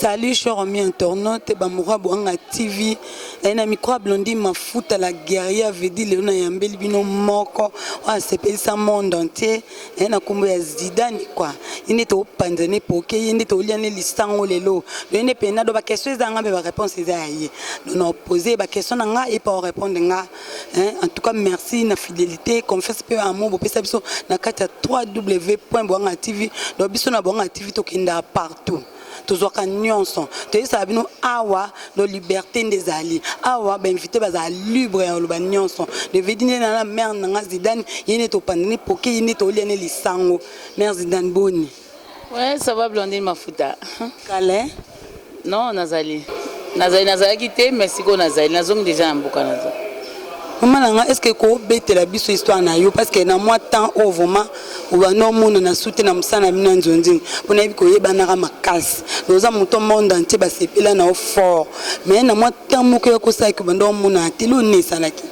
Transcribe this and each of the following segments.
Salut cher ami internaute bamura boanga TV naye na micro ya Blondie Mafuta la guerrière vedi lelo nayambeli bino moko oyo asepelisa monde entier naye na nkombo ya Zidane kwa ye nde topanza ne poke ye nde tolia ne lisango lelo loye nde mpenza do baquestion eza nga mpe bareponse eza ya ye dono pose baquestion na nga ye mpe orepondre nga hein en tout cas merci na fidélité confiance pe amour bopesa biso na kati ya 3w point boanga tv donc biso na boanga tv tokendaka partout tozwaka nyonso toyebisaka bino awa no liberté nde ezali awa bainvité bazala libre ya koloba nyonso devedi nde na na mare na nga zidane ye nde topanda ne poke ye nde tolia ne lisango mare zidane boni Ouais, ça va Blondine Mafuta. Kale. Non, nazali. Nazali nazalaki te, mais siko nazali. Nazongi déjà na mboka nazo. Maman nanga, est-ce que ko betela biso histoire na yo parce que na moi temps au vraiment obana omona na sute na mosala na bino ya nzonzing mpo nayebi koyebanaka makasi oza moto monde entier basepela na yo fort mais na mwa temps moko ya kosalaki obanda omonana te loni esalaki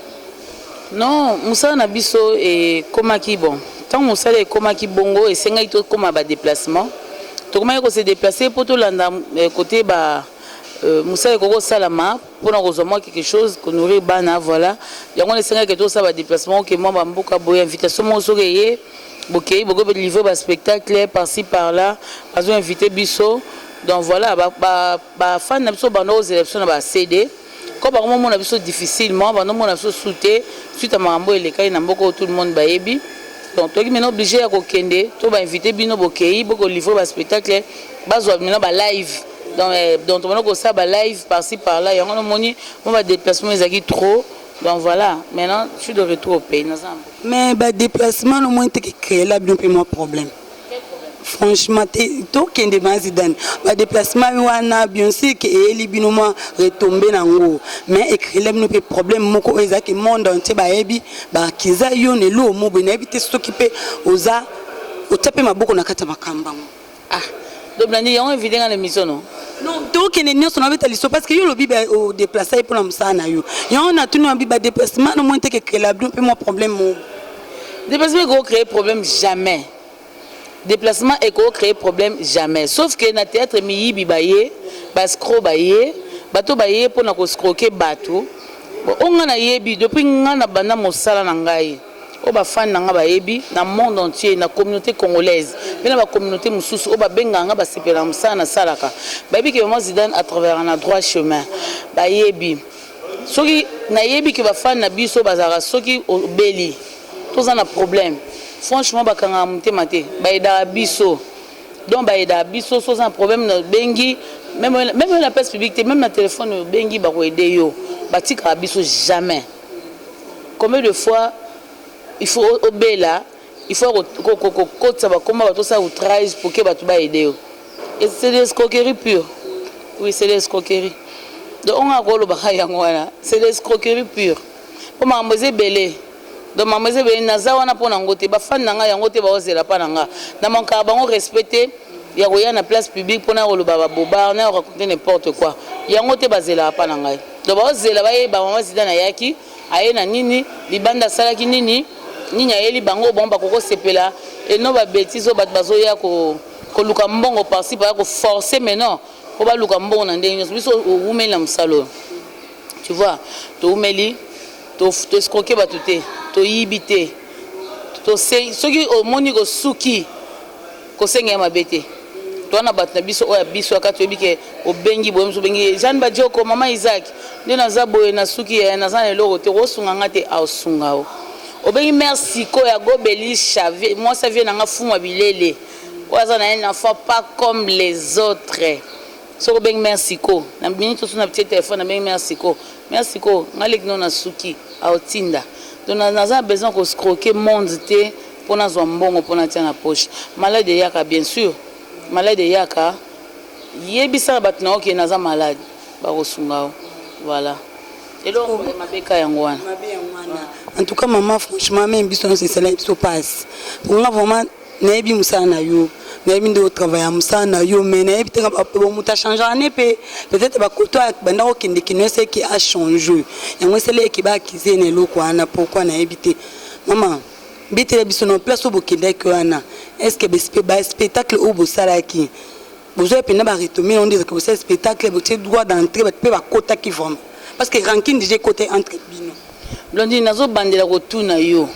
Non, musala na biso ekomaki bon tango musala ekomaki bongo esengaki tokoma ba deplacement tokomaki ko se deplacer po tolanda cote ba musala ekoki kosalama pona kozua mua quelque chose ko nourrir bana voila yango wana esengaki ke tosala ba deplacement oke mua ba mboka boye invitation moko soki eye bokeyi bokoki pe livrer ba spectacle par ci par là bazo inviter biso donc voila ba fans na biso babandaki kozela biso na ba CD. Ko bango mo mona biso difficilement ba no mona biso sous te suite ya makambo oyo elekaki na mboka oyo tout le monde ba yebi donc toki maintenant oblige ya ko kende to ba invite bino bo keyi bo ko livre ba spectacle ba zwa bino ba live donc eh, donc to mona ko sa ba live par ci par là yango no moni mo ba déplacement ezaki trop donc voilà maintenant je suis de retour au pays na zambo mais ba déplacement no moni te ki créer la bino pe mo problème franchement te tokende ma zidane badeplacement wana bionseke eyeli bino mwa retombe na yango mais ekrele bino mpe problème moko oyo ezalaki monde entier bayebi bakiza yo na eluo mobe nayebi te soki mpe oza otya mpe maboko na kati ya makambo yango ah doblandi yango evide nga na émission no non tokende nyonso na beta liso parce que yo olobi odeplace ye mpo na mosala na yo yango natuni wabi badeplacement na moni te kekrela bino mpe mwa problème moko Déplacement eko créer problème jamais. Déplacement eko créer problème jamais. Sauf que na théâtre miyibi baye, ba scro baye, bato baye pona ko scroquer bato. Bon, o nga na yebi depuis nga na banda mosala na ngai. O ba fan na nga ba yebi na monde entier, na communauté congolaise, pe na ba communauté mususu o ba bengaka nga ba sepela na mosala na salaka. Ba yebi que maman Zidane a traverana droit chemin. Ba yebi. Soki na yebi que ba fan na biso bazalaka soki obeli to za na problème franchement ba kangaka motema te ba aidaka biso donc ba aidaka biso soki oza na problème na bengi meme meme na place publique te meme na telephone oyo bengi ba ko aider yo ba tikaka biso jamais combien de fois il faut obela Il faut ko ko ko kotisa ba kombo ya batu osala outrage pour que batu ba aider yo. Et c'est de l'escroquerie pure. Oui, c'est de l'escroquerie. Donc onga ko loba ka yango wana, c'est de l'escroquerie pure. Po makambo eza ebele. Donc makambo eza ebele naza wana po na ngo te. Ba fan na nga yango te ba ozela pa na nga. Na manka bango respect te ya koya na place publique pona ko loba ba boba na raconter n'importe quoi. Yango te ba zela pa na ngai. Donc ba ozela ba ye ba maman Zidane ayaki. Aye na nini? Libanda asalaki nini? Nini ayeli bango oyo bango bakoki kosepela et non ba betises oyo bato bazoya ko koluka mbongo par ci par là ko forcer mais non po baluka mbongo na ndenge nionso biso owumeli na mosala oyo tu vois towumeli to escroquer bato te toyibi te tose soki omoni osuki Kosenga ye mabe te. Toa na batu na biso oyo ya biso ya kati oyebi ke obengi boye musu obengi ye Jeanne Badioko maman Isaac nde naza boye na suki eh naza na eloko te oko sunga nga te ao sunga yo obengi mère Siko ya go Belisha vie mwasi ya vie na nga fumu ya bilele oyo aza na un enfant pas comme les autres Soki obengi mère Siko na minute osu na tie telephone na bengi mère Siko mère Siko nga leki no na suki au tinda donc na naza na besoin ko scroquer monde te po na zua mbongo po na tia na poche malade eyaka bien sur malade eyaka yebisa na batu na yo ke naza malade ba ko sunga yo voila eloko ya mabe ka yango wana. En tout cas maman franchement meme biso nionso esalaki biso pasi po nga vraiment Nayebi musala na yo, nayebi nde o travailler musala na yo mais nayebi te kaka po mutu a changaka ne pe peut-etre ba koto a banda ko kende kino ese ke a change yango esali ye ke ba accuser ye na eloko wana pourquoi nayebi te maman betela biso na place oyo bokendaki wana est ce que ba spectacle oyo bosalaki Bozoya pena ba retomber on dirait que bosali spectacle botie droit d'entrée bato pe bakotaki vraiment parce que rancune déjà ekota entre bino. Blondine nazo bandela kotuna yo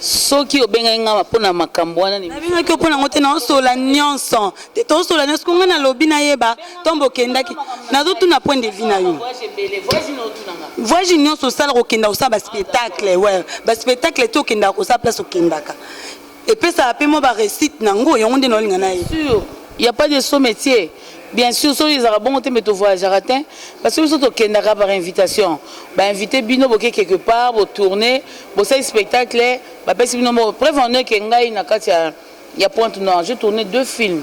soki obengaki nga mpo na makambo wana nabengaki yo mpo nango te naosola nyonso te tosola nyonso ko ngai nalobi nayeba ntombo okendaki nazotuna point de vie na yo voyage nyonso osala kokenda kosala baspectacle we baspectacle te okendaka kosala place okendaka epesaka pe mwa ba recite na ngo yango nde naolinga na ye sur il ya pas de saut metier bien sur soki ezaka bongo te mbe to voyagaka te parce que biso tokendaka par invitation ba invite bino boke quelque part bo tourner bosali spectacle bapesi bino moko preuve en est que ngai na kati ya ya pointe noire je tourner deux films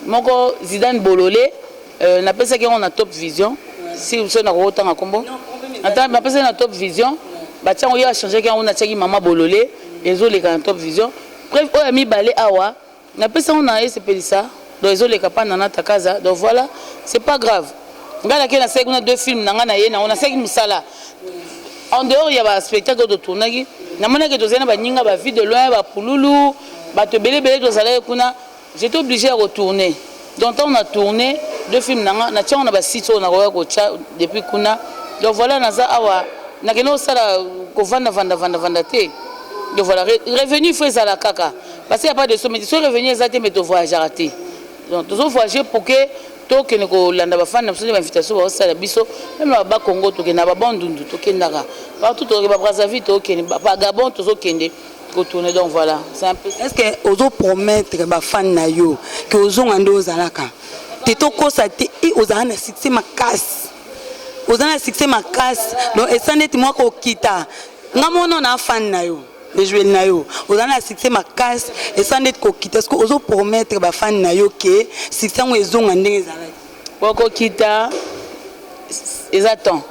Moko Zidane bolole euh, na pesaki yango na top vision si biso na koko tanga kombo ata na pesaki na top vision ba tiango ya changer yango na tiaki mama bolole ezo leka na top vision preuve oyo mi balé awa na pesango na ese pelisa donc ezo leka pa nana takaza donc voilà c'est pas grave ngai na ke na seki kuna deux films na ngai na ye na ona seki musala en dehors ya ba spectacle de tournaki na monaki tozena ba ninga ba vie de loin ba pululu ba to belé belé tozalaki kuna J'etais oblige ya ko tourner donc tango na tourner deux films na nga natia yango na ba sites oyo nakokaki kotia depuis kuna donc voila naza awa nakende kosala kovanda vanda vanda vanda te donc voila revenu il faut ezala kaka parce qu'il y a pas de somme mais soki revenu eza te mais to voyageaka te donc tozo voyager pour que tokende kolanda bafani na biso nde bainvitation baosala biso meme na baba congo tokende na babandundu tokendaka partout tokende babrazzaville tokende bagabon tozokende ko tourner donc voilà c'est un peu est ce que ozo promettre ba fan na yo que ozonga nde ozalaka te tokosa te e ozala na succès makasi oza na succès makasi donc esa ndeti mwa kokita nga mono na fan na yo ejueli na yo oza na succès makasi esa ndeti kokita soki ozo promettre ba fan na yo ke succès yango ezonga ndenge ezalaki bokokita eza temps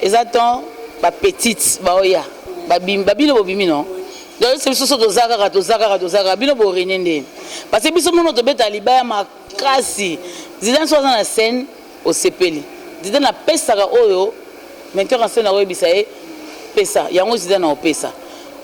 eza temps ba petite baoya babimi babino bobimi no donc ese biso so toza kaka toza kaka toza kaka bino borene nde parce biso mono tobeta libaya makasi zidane so aza na scène osepeli zidane apesaka oyo metteur en scène akoyebisa ye pesa yango zidane aopesa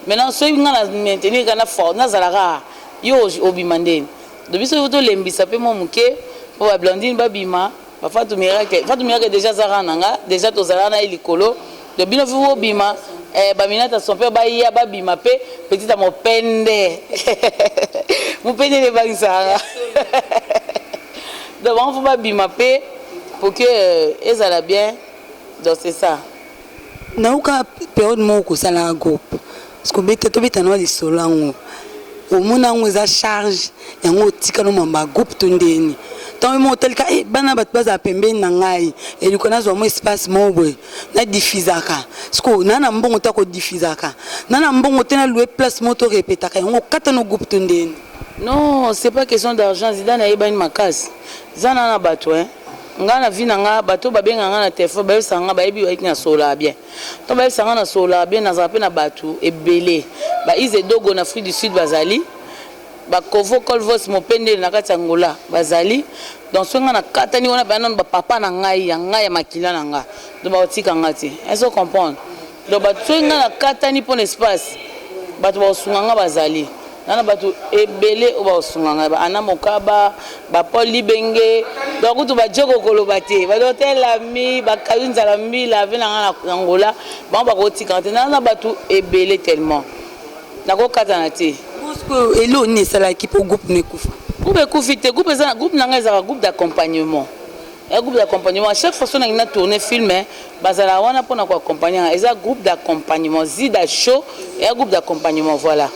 maintenant soki ngai na maintenir kana fort nazalaka yo obima nde do biso tolembisa mpe mwa moke mpo bablandine babima Ba Fatou Miracle, Fatou Miracle deja aza rang na nga, deja tozalaka na ye likolo. Donc bino vu bobima, eh, ba Minata son père baya babima pe petit ya mopende. mopende nde ebangisaka nga. donc bango faut babima pe pour que euh, ezala bien. Donc c'est ça. Nayoka periode moko kosala na groupe kobeta tobeta na lisolo yango omona yango eza charge yango otika no mamba groupe to ndeni ntango yo moko otalika e eh, bana bato bazala pembeni na ngai eluka nazwa mwa espace moko boye nadifizaka sikoyo naa na mbongo te akodifizaka naa na mbongo te nalue place moko to repetaka yango okata no groupe to ndeni non c'est pas question d'argent zidane ayebani makasi zana na bato e eh. Nga na vie na nga bato ba benga nga na telephone ba yebisa nga ba yebi ba na solola bien to ba yebisa nga na solola bien na zala pe na bato ebele ba ize dogo na afrique du sud ba zali ba kovo colvos mopendele na kati ya ngola ba zali donc soki nga na katani wana ba nanu ba papa na ngai ya ngai ya makila na nga donc ba tika nga te est ce comprendre Donc bato soki ngai nakatani mpo na espace bato bakosunga ngai bazali nana bato ebele oyo bakosunga ngai ba ana mokaba bapole libenge donc kutu bajoko koloba te badotelami bakayu nzala mbila ave na ngai na angola bango bakotikana te nana bato ebele tellement nakokatana te elo nini esalaki mpo groupe na ekufa groupe ekufi te groupe na ngai ezalaka groupe d'accompagnement Eza groupe d'accompagnement. Chaque fois soki nangi na tourner film, bazalaka wana pona ko accompagner nga. Eza groupe d'accompagnement. Zida show eza groupe d'accompagnement voilà.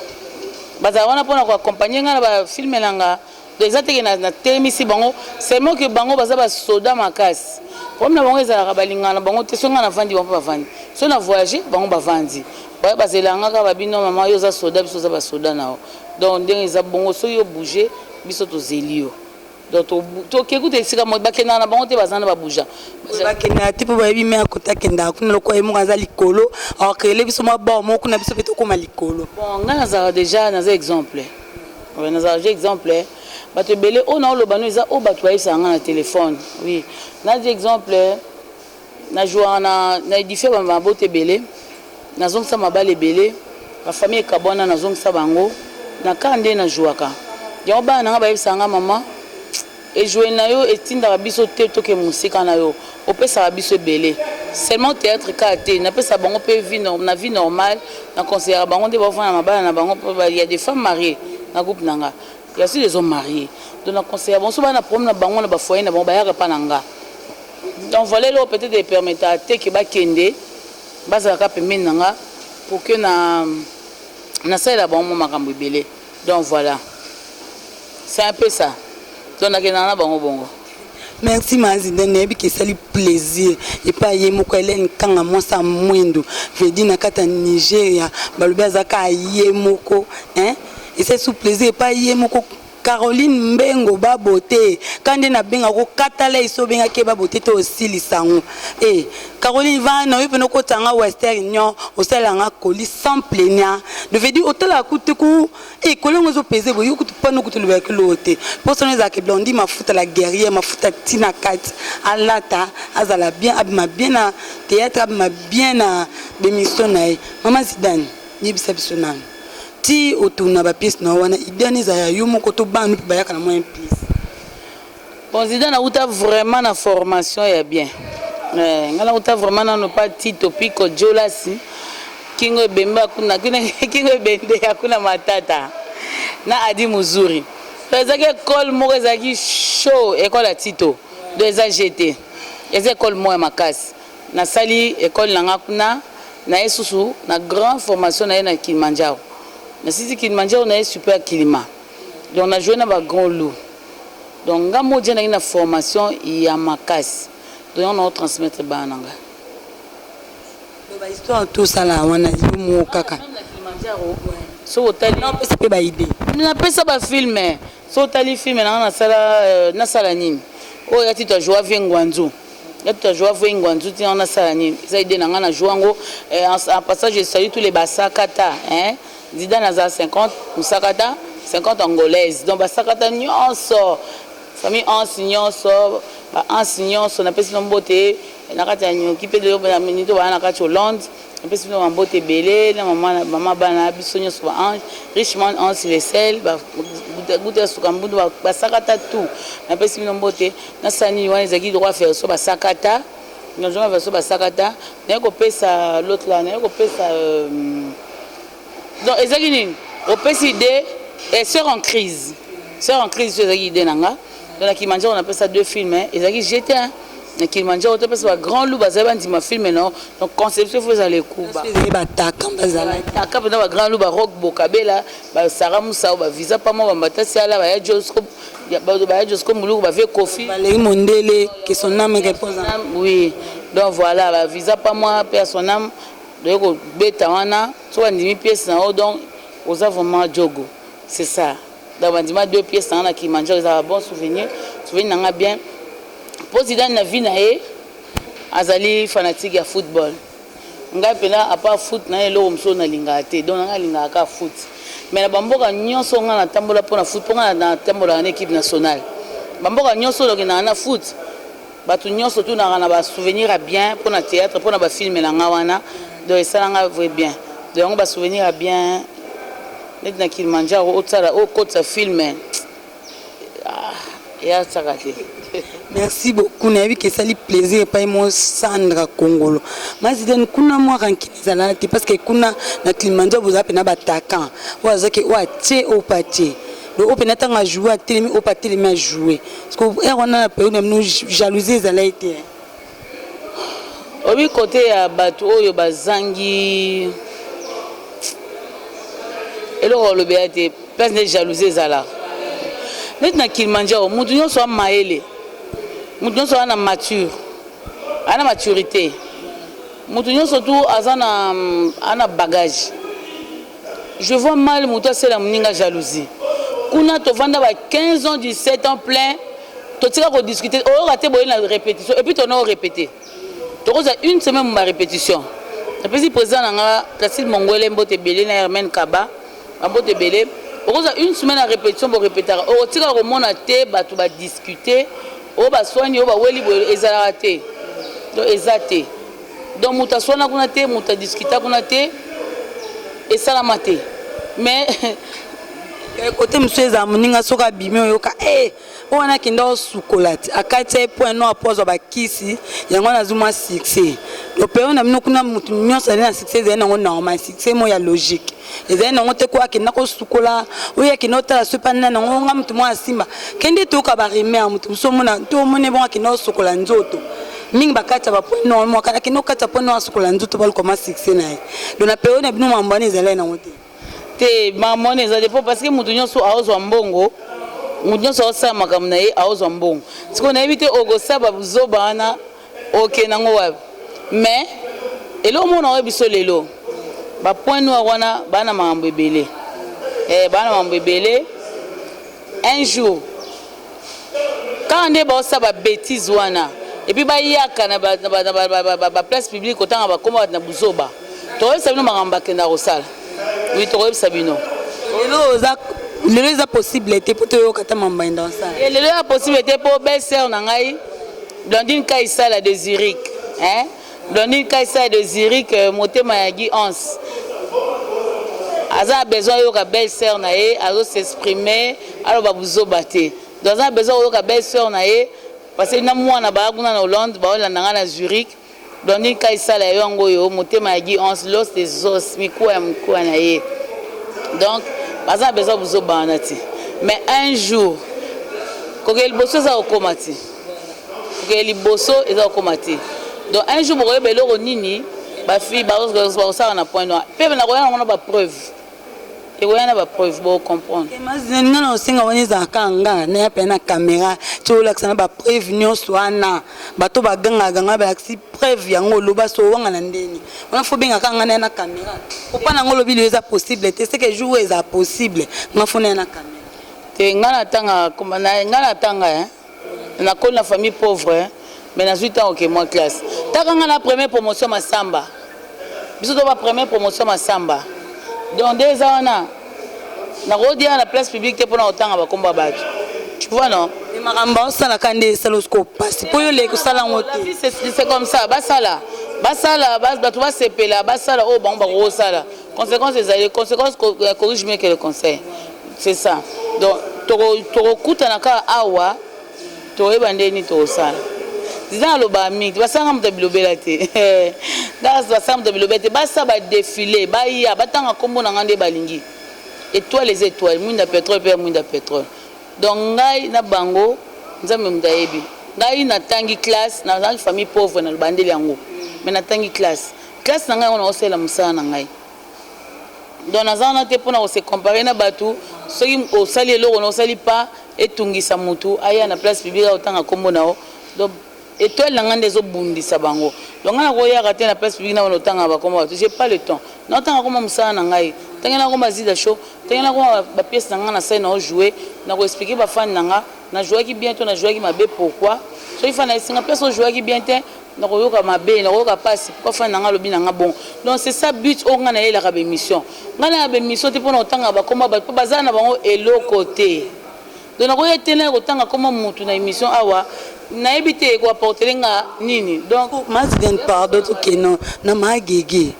Bazalaka wana pona ko accompagner nga na ba film nanga. Donc eza te ke na na telemisi bango, seulement ke bango baza ba soda makasi. Problème na bango ezalaka balingaka na bango te soki nga na vandi bango pe ba vandi. Soki na voyager bango ba vandi. Baye bazelaka nga kaka ba bino maman yo oza soda biso toza ba soda na yo. Donc ndenge eza bongo soki yo bouger biso tozeli yo. Donc to ke kuta esika mo ba kenda na bango te bazana ba bouja. Ba kenda te po ba yebi mais akota kenda kuna loko ye moko aza likolo. Alors que le biso mwa ba mo kuna biso pe to koma likolo. Bon nga nazala déjà naza exemple. Ouais nazala déjà exemple. Eh. bato ebele oyo naoloba no eza oyo bato bayebisaka ngai na telefone oui nadi exemple Na jouaka na na edifia ba mabota ebele na zongisa mabala ebele ba famille ekabuana na zongisa bango na car nde na jouaka yango bana na nga bayebisaka nga maman ejouer na yo etindaka biso te toke mosika na yo opesaka biso ebele seulement theatre kaka te na pesaka bango pe vie norm na vie normal na conseillaka bango nde bavanda na mabala na bango po ya des femmes marie na groupe na nga ya sur ezo marie donc na conseillaka bango soki baya na problème na bango na ba foyer na bango bayaka epa na nga Donc valeur oyo peut-etre e permettaka te que bakende, bazala kaka pembeni na nga pour que na nasalela bango mwa makambo ebele. Donc voilà, c'est un peu ça. Donc nakendaka na bango bongo. Merci ma Zinda, nayebi ke esali plaisir epa ye moko Hélène Kanga mwasi ya mwindu vedi na kati ya Nigeria balobi azalaka ye moko hein ese sous plaisir epa ye moko Caroline mbengo ba beaute ka nde na benga ko kata lait so benga ke ba beaute to osilisa ngo eh Caroline vana yo pena okotisa nga western union osalela nga colis sans plaignant de veut dire otalaka kutu te ku eh kolongo ezo peze boye yo kutu pano kutu olobela kilo oyo te posa no ezalaka blondie mafuta la guerrière mafuta ti na kati alata azala bien abima bien na theatre abima bien na bemission na ye mama zidane yebisa biso nanu tii otuna ba pièce na yo wana idee wana ezala ya yo moko to bana mpe bayaka na mwa un pièce President nawuta vraiment na formation ya bien eh, nga nawuta vraiment nano pa tito piko jolasi kingo ebembe akuna kuna kingo ebende akuna matata na adi muzuri to ezalaki ekole moko ezalaki show ekole ya tito do eza jete eza ekole moko ya makasi Na sali ecole na nga kuna na ye susu na grand formation na ye na Kilimanjaro. Na sisi Kilimanjaro na ye super kilima. Donc na jouer na ba grand lou. Donc nga moja na ye na formation ya makasi. Donc yango na o transmettre bana na nga. Donc ba histoire to sala wana yo moko kaka. Meme na Kilimanjaro soki otali. Na pesa pe ba idee. Na pesa ba film. Soki otali film na nga na sala euh, na sala nini? Oyo ya tito a joua vie ngwanzu. Nga tout a joua vue ngwanzu ti nga na sala nini eza idee na nga na joua ngo eh, en passage je salue tous les basakata hein Zidane aza 50 musakata 50 angolaise donc basakata nyonso famille Hans nyonso ba Hans nyonso napesi no mbote na kati ya nyoki pe lelo na minito bana na kati Hollande Napesi bino ba mbote ebele na mama na mama bana na biso nionso ba ange richman ange le sel ba guta ya suka mbundu ba, ba sakata tout napesi bino mbote na sani wana ezaki droit verso ba sakata na droit verso ba sakata naye kopesa l'autre là naye kopesa euh, Donc ezaki nini? Opesi idee eh, sœur en crise. Sœur en crise tu ezaki idée na nga. Donc na Kilimanjaro na pesa deux films, eh. ezaki j'étais hein. Na Kilimanjaro to pesa ba grand loup bazali bandima film non. Donc conception faut ezala ekuba. Ezali ba taka bazala. Taka pena ba grand loup ba rock bokabela, ba Sarah Moussa ba visa pa mo ba mbata siala ba ya Josco ya ba ba ya Josco Muluku ba vie Kofi. Ba lei mondele que son âme repose. Oui. Donc voilà, ba visa pa moi, père son âme. Baye ko beta wana soki ba ndimi pièce na yo donc oza vraiment djogo c'est ça donc ba ndima deux pièce na nga na Kilimanjaro eza ba bon souvenir souvenir na nga bien po Zidane na vie na ye azali fanatique ya football ngai mpena apa foot na ye eloko mosusu nalingaka te donc nanga alingaka kaka foot mais na bamboka nyonso ngai natambola mpo na foot mpo ngai natambolaka na équipe nationale bamboka nyonso nakendaka na foot Batu nionso tunaka na ba souvenir ya bien pona theatre pona ba film na nga wana donc esala nga vrai bien donc yango ba souvenir ya bien neti na Kilimanjaro osala okotisa film eya saka te. Merci beaucoup. Nayebi ke esali plaisir epai mo Sandra Kongolo. Mazidane kuna mwa rancune ezalaka te parce que kuna na Kilimanjaro bozala mpe na batakan oyo azwaki oyo atie oyo mpe atie Donc ope na tanga jouer a telemi ope a telemi a jouer parce que heure wana na période na bino jalousie ezalaki te hein. obi kote ya bato oyo bazangi eloko olobela te place nde jalousie ezala neti na kilimanjaro moto nyonso ya mayele moto nyonso aza na mature aza na maturité moto nyonso tu aza na ana bagage Je vois mal mutu asela muninga jalousie. Kuna tovanda ba 15 ans 17 ans plein totika ko discuter oyoka te boye na repetition et puis tona o repeter. Tokoza une semaine ba repetition. Napesi president na nga Placide Mongwele mbote ebele na Hermène Kaba ba mbote ebele. Okoza une semaine ya repetition bo repetaka okotika komona te bato ba discuter oyo baswani oyo baweli boye ezalaka te donc eza te Donc mutu aswana kuna te, mutu a discuta kuna te, esalama te mais kote eh, mosusu ezala moninga soki abimi oyoka e eh, oyo wana akenda osukola ti akati ya ye mpo yano apo azwa bakisi yango wana azwi mwa succès lopeo na bino kuna motu nyonso azali na succès ezali nango normal succès mo ya logique ezali nango te ko akenda kosukola oyo akenda otala soki pani nani yango nga moto moko asimba kende toyoka baremere moto mosusu omona to omoni ebongo akenda kosukola nzoto mingi bakati ya baponi nor mwaka akenda kokati ya poni nor asukola nzoto balukama succès na ye don na periode na bino mambo wana ezalai nango te te mambo wana ezali po parce que moto nyonso aozwa mbongo moto nyonso aosala makambo na ye aozwa mbongo sikoyo nayebi te okosala babuzoba wana Oke nango wapi mais eloko moko nakoyebisa biso lelo ba point noir wana ba na makambo ebele eh ba na makambo ebele un jour kaka nde baosala ba betise wana epuis bayaka na ba place publique kotanga bakoma bato na buzoba tokoyebisa bino makambo bakenda kosala wi tokoyebisa bino lelo oza lelo eza possible te mpo toyoka ta makambo bakenda kosala eh, lelo eza possible te mpo belle sœur na ngai Blandine Kaisala de Zurich hein Blandine Kaisala de Zurich euh, motema ya Guy Hans aza na besoin ayoka belle sœur na ye azo s'exprimer aloba buzoba te donc aza na besoin koyoka belle sœur na ye parce que na mwana baya kuna na Hollande baolanda ngai na Zurich Blandine Kayi sala ya yo yango oyo motema ya Guy Hans l'os des os mikuwa ya mukuwa na ye donc baza na besoin buzoba wana ti mais un jour kokende liboso eza kokoma ti kokende liboso eza kokoma ti donc un jour bokoyeba eloko nini bafille bakosala na point noir mpe nakoya nango na bapreuve Ekoya na ba preuves boko comprendre. Nga nao senga wana ezala kaka nga na ya pena camera ti olakisa na ba preuves nionso wana bato ba ganga ganga na balakisi preuves yango loba so owanga na ndeni wana fo benga kaka nga na ya na camera po pa na nga olobi liyo eza possible te seke jour oyo ezala possible nga fo na ya na camera. Te nga na tanga kombo na nga na tanga hein. Nakoli na famille pauvre mais nazui tango ke mwa classe. Taka nga na premier promotion Massamba. Biso to ba premier promotion Massamba. Donc nde eza wana. Nako dia na place publique te pona kotanga ba kombo ya batu. Tu vois non? Mais makambo ba osala ka nde esala osko pasi po yo leki osala ngo te. C'est comme ça basala. Basala batu basepela basala oyo bango bakosala. Consequence ezali consequence corrige mieux que le conseil. C'est ça. Donc toko toko kutana ka awa toyeba ndeni tosala. Zidane alobaka mingi basanga moto ya bilobela te ndas basanga moto ya bilobela te basa badefile baya batanga nkombo na ngai nde balingi étoile eza étoile mwinda pétrole mpe ya mwinda pétrole donc ngai na bango nzambe moto ayebi ngai natangi classe nazalaki famille pauvre na bandeli yango mais natangi classe classe na ngai yango naosalela mosala na ngai donc naza wana te pona ko se comparer na batu soki osali eloko na osali pas etungisa mutu aya na place publique akotanga kombo na yo donc etoile na ngai nde ezobundisa bango donc ngai nakoyaka te na place publique nabana otanga bakoma bato j'ai pas le temps naotanga koma mosala na ngai ndenge nakoma zida show ndenge nakoma bapiece na ngai na sai nao joue nakoexplike bafani na ngai na jouaki bien to na jouaki mabe pourquoi soki fani na esinga place ojouaki bien te Nakoyoka mabe nakoyoka pasi pourquoi fan na nga alobi na nga bongo donc c'est ça but oyo nga nayelaka ba emission nga nayaka ba emission te pona kotangaka ba kombo ya batu po baza na bango eloko te donc nakoya te naya kotanga kombo ya mutu na emission awa nayebi te eko apportele nga nini donc Mazigen pardon tokende na ma gege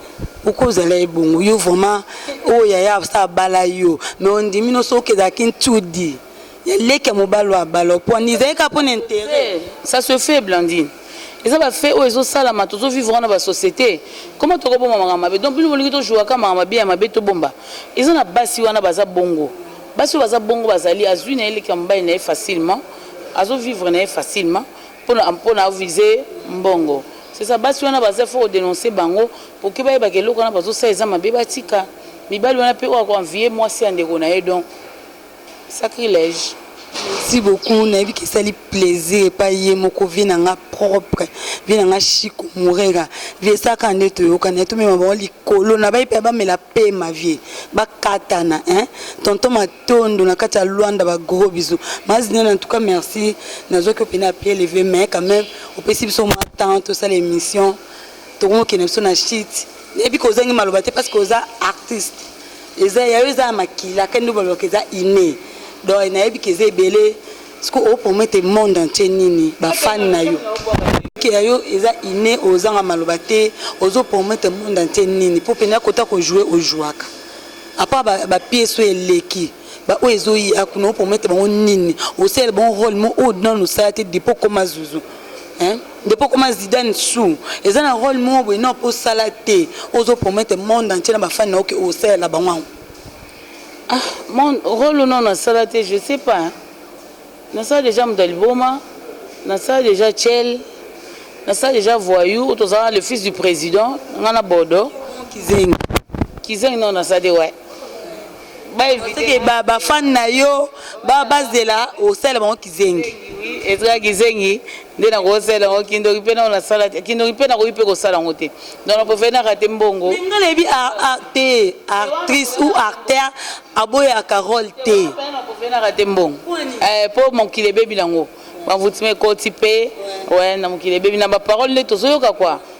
uko ozala ye bongo yo vraiment oyo yaya absa abala yo mais ondimi no soki ezalaki ntudi ya leki ya mobali wa balo pwani ezali kaka mpo na interet ça se fait blandine eza bafe oyo ezosalama tozovivre wana basociété koma tokobomba makambo mabe donc bino bolingi tozwaka makambo mabe ya mabe tobomba eza na basi wana baza bongo basi oyo baza bongo bazali azwi na ye leki ya mobali na ye facilement azovivre na ye facilement mpo na avise mbongo sesa basi wana baza fo kodenonse bango poke bayebaka eloko wana bazosala eza mabe batika mibali wana mpe oyo akoanvie mwasi ya ndeko na ye donc Sacrilège. Merci beaucoup nayebi ke esali plaisir epai ye moko vie na nga propre vie na nga chico murega vie esala kaka nde toyokana ye tomema bango likolo na baye mpe bamela pema vie bakatana hein tonton matondo na kati ya luanda ba gros bisous mazina na tout cas merci nazwaki yo mpena pied levé mais quand même opesi biso mwa temps tosala émission Tokomi okende biso na shit. Nayebi ko ozangi maloba te parce que oza artiste. Eza yayo eza ya makila kende baloka eza inne. Donc nayebi ke eza ebele. Siko o promettre monde entier nini ba fan na yo. Ke yayo eza inne ozanga maloba te ozo promettre monde entier nini po pene akota ko jouer o jouaka. A part ba ba pièces oyo eleki ba oyo ezo ya kuna o promettre bango nini? Osalela bango role moko oyo nanu osala te depuis okoma zuzu. Hein? Depuis okoma Zidane sous eza na rôle moko boye na po sala te ozo promettre monde entier na ba fan na oke osalela bango yango. Ah, mon rôle non nasala te je sais pas. Nasala déjà moto ya liboma, nasala déjà Tchel, nasala déjà voyou, otozala le fils du président, nga na Bodo. Kizengi. Kizengi non nasala te ouais. bafani na yo bazela osala bango kizengi ezala kizengi nde nakosala yango kindoki mpe nao nasala te kindoki mpe nakoki mpe kosala yango te donc nakovenaka te mbongo nga nayebi te actrice ou acteur aboyaka role te nakovenaka te mbongo mpo eh, mokili ebebi nango bavutimi ekoti mpe na mokili ebebi na baparole nde tozoyoka kwa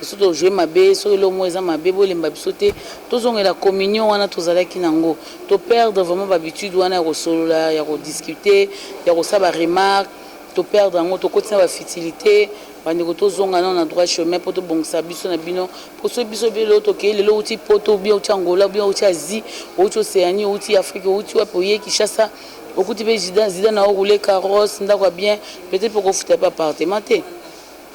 Biso to jouer mabe, soki eloko moko eza mabe bolemba biso te, tozongela communion wana tozalaki nango, to perdre vraiment ba habitudes wana ya kosolola, ya ko discuter, ya kosala ba remarques, to perdre yango, tokoti na ba futilites, bandeko tozonga nanu na droit chemin mpo tobongisa biso na bino, mpo soki biso pe lelo tokei, lelo owuti poto ou bien owuti Angola ou bien owuti Asie, owuti Oceanie, owuti Afrique, owuti wapi oye Kinshasa, okuti pe Zidane azo rouler carrosse, ndako ya bien, peut-etre pe okofuta pe appartement te.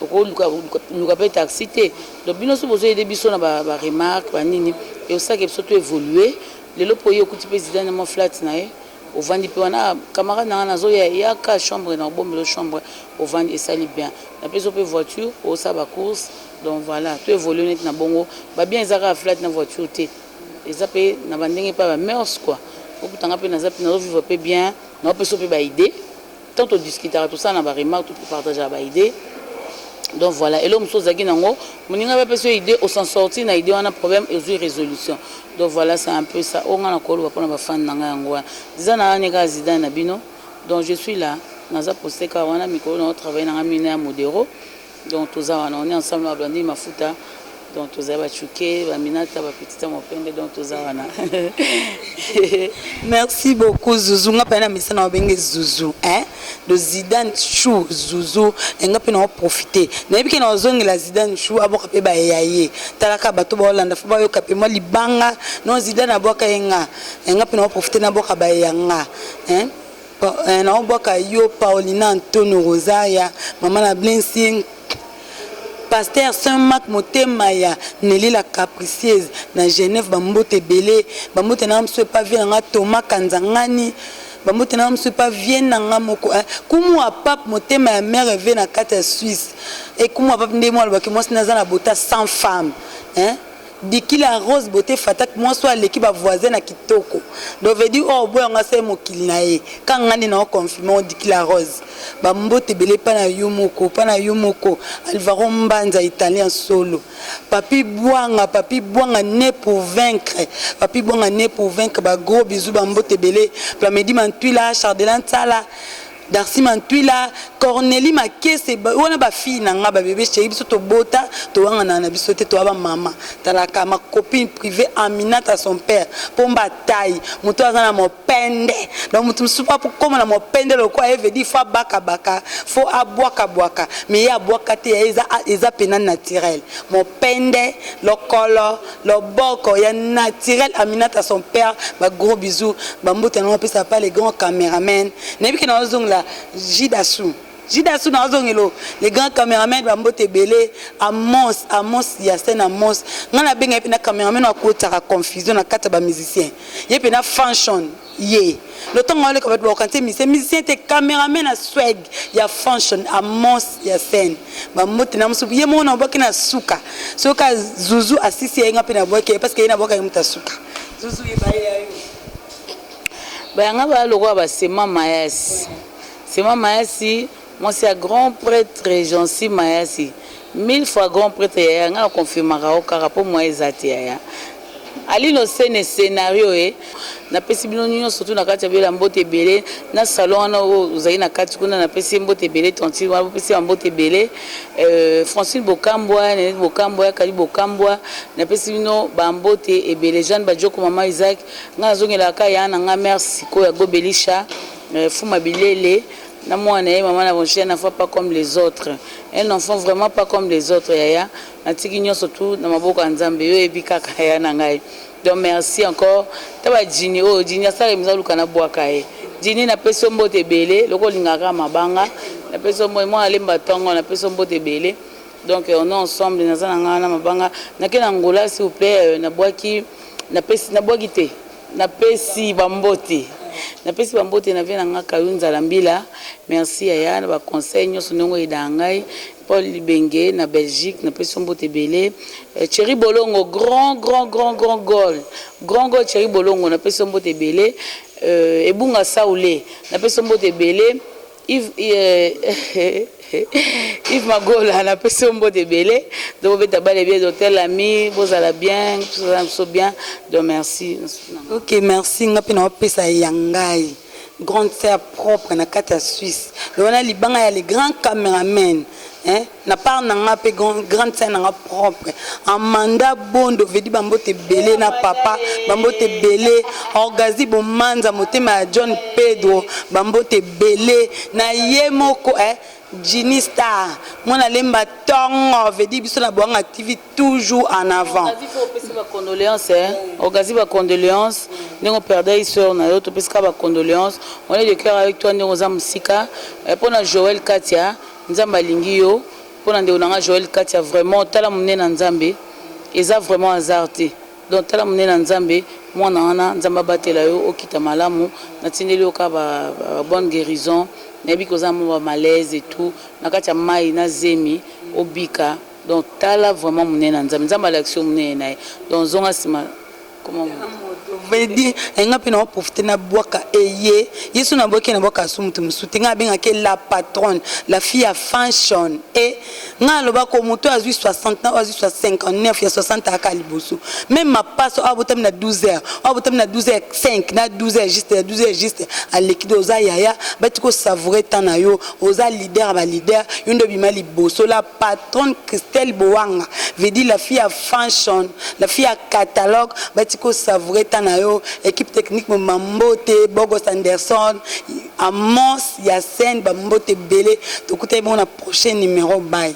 Oko luka luka pe taxi te donc bino soki bozo aider biso na ba remarque ba nini eosaki biso to evoluer lelo po yo okuti pe zidane na mwa flat na ye ovandi pe wana camarade na nga nazo ya yaka chambre na obombelo chambre ovandi esali bien na peso pe voiture osa ba course donc voilà to evoluer neti na bongo ba bien eza kaka flat na voiture te eza pe na ba ndenge pa ba mœurs quoi okuta nga pe nazo vivre pe bien na opeso pe ba idee Tango to discutaka tosalana ba remarque to partageaka ba idee donc voila eloko mosusu ozalaki na yango moninga pe apesi yo idee o s'en sortir na idee wana problème ezui resolution donc voila c'est un peu ça oyo nga nako loba pona ba fan na nga yango wana zidane aza ne kaka zidane na bino donc je suis là naza poste kaka wana mikolo nao travailler na nga mingi na ya modero Donc toza wana on est ensemble na Blandine Mafuta donc tozali ba Chuke, ba Minata, ba Petita Mopende donc toza wana. Merci beaucoup Zuzu nga pe na misa na obenge Zuzu hein de Zidane Chou Zuzu nga pe na profiter. Na yebi ke na ozongela Zidane Chou aboka pe ba yaye. Talaka bato ba Hollande fa ba yoka pe moi libanga non Zidane aboka yenga. Nga pe na profiter na boka ba yanga hein. Pa, eh, nao bwaka yo Paulina Ntono Rosaria, mama na Blessing, Pasteur Saint Marc motema ya Nelly la capricieuse na Genève, ba mbote ebele, ba mbote na nga mosusu epa vieux na nga Thomas Kanzangani, ba mbote na nga mosusu epa vieux na nga moko eh, Kumu wa Pape motema ya Mère Eve na kati ya Suisse, eh, Kumu wa Pape nde mo alobaki mwasi na aza na bota sans femme eh. Dikila rose beaute fatak mwasi oyo aleki ba voisin na kitoko donc veut dire oyo aboya ngo asali mokili na ye kaka nga nde nao confirmer ngo dikila rose ba mbote ebele epa na yo moko epa na yo moko alvaro mbanza italien solo papy bwanga papy bwanga ne pour vaincre papy bwanga ne pour vaincre ba gros bisous ba mbote ebele plamedi mantwila chardelan nsala Darcy Mantwila, Cornelie Makese wana ba fille na nga ba bebe cherie biso tobota towangana na biso te toa ba mama talaka ma copine privee Aminata son père pomba taille moto aza na mopende donc moto mosusu po akoma na mopende lokola ye veut dire faut abaka baka faut abwaka bwaka mais ye abwaka te ya eza eza pena naturel mopende lokolo Loboko ya naturel Aminata son père ba gros bisous ba mbote na pesa pa le grand cameraman na yebi ke na ozongela Jidasu Jidasu na ozongelo le grand cameraman ba mbote ebele Amos Amos ya scène Amos nga na benga ye pena cameraman akotaka confusion na kati ya ba musiciens ye pena Fanchon ye lotongo aleka bato baokanisa mise musicien te cameraman na swag ya function amos ya scène bambote na mosuku ye moko na obwaki na suka soki zuzu asisi yaye nga mpe nabwaki yaye parceke ye nabwaka ye moto asuka zuzu yebaye yayo bayanga baya lokola basema mayasi sema mayasi Mwasi ya grand pretre jeancy mayasi mille fois grand pretre yaya nga na confirmaka yo kaka po moyen eza te yaya alino scene scenario e na pesi bino nionso tout na kati ya bela mbote ebele na salon wana oyo ozali na kati kuna na pesi ye mbote ebele tantine wana bopesi ye mbote ebele euh, francine bokambwa nenete bokambwa yakali bokambwa na pesi bino ba mbote ebele jeanne bajoko mama isaac nga nazongelaka ka ya na nga mère siko ya gobelisha euh, fuma bilele na muana naye maman na roger na voix pas comme les autres un enfant vraiment pas comme les autres yaya na tiki nionso tout na maboko ya nzambe yo oyebi kaka yaya na ngai donc merci encore ta ba djini oyo djini asala emisa luka na buaka ye djini na pesi yo mbote ebele loko olingaka kaka mabanga na pesi yo mbote mwana lemba tongo na pesi yo mbote ebele donc on est ensemble naza na ngai wana mabanga nake na ngola s'il vous plaît na bwaki na pesi na bwaki te Napesi ba mbote Napesi ba mbote na vie na nga Kayunza la mbila Merci yaya na ba conseils nionso ndenge o aidaka ngai Paul Libenge na Belgique na pesi yo mbote ebele Thierry Bolongo grand grand grand grand goal grand goal Thierry Bolongo na pesi yo mbote ebele Ebunga Saule na pesi yo mbote ebele Yves Magola na pesi yo mbote ebele donc obeta bale bien donc tel ami bozala bien tozala biso bien donc merci ok merci nga mpe naopesa ya ngai grande sœur propre na kati ya suisse donc wana libanga ya le grand cameraman eh? Na part na nga pe grande sœur na nga propre Amanda Bondo Vedi ba mbote ebele na papa ba mbote ebele Orgazi Bomanza motema ya John Pedro ba mbote ebele na ye moko eh Ginny Star mwana lemba tongo Vedi biso na Boanga TV toujours en avant. Orgazi faut opesa ba condoleances eh Orgazi ba condoleances ndenge operdaki soeur na yo topesi ka ba condoleances on est de cœur avec toi ndenge oza mosika eh pona Joël Katia Nzambe alingi yo pona ndeko na nga Joël Katia vraiment tala munene ya Nzambe eza vraiment hasard te donc tala munene ya Nzambe muana wana Nzambe abatela yo okita malamu na tindeli yo ka ba bonne guerison na yebi ke oza na mua ba malaise et tout na kati ya mayi na zemi obika donc tala vraiment munene ya Nzambe Nzambe alakisi yo munene na ye donc zonga sima vedi enga mpe nao profite na bwaka eye yesu na bwaki na bwaka asu moto mosusu te ngai abengaki la patronne la fille ya fanshon e ngai alobako moto oyo azwi 60 na oyo azwi 59 ya 60 ayaka liboso meme mapaso oyo abotami na 12 heures oyo abotami na 12 heures 5 na 12 heures juste ya 12 heures juste aleki de oza yaya bati kosavoure temps na yo oza leader ya baleader yo nde obima liboso la patronne christelle bowanga vedi la fille ya Fanchon la fille ya catalogue ba tika o savourer temps na yo equipe technique mobimba mbote Bogos Anderson Amos ya scène ba mbote ebele tokutani bongo na prochain numero bye.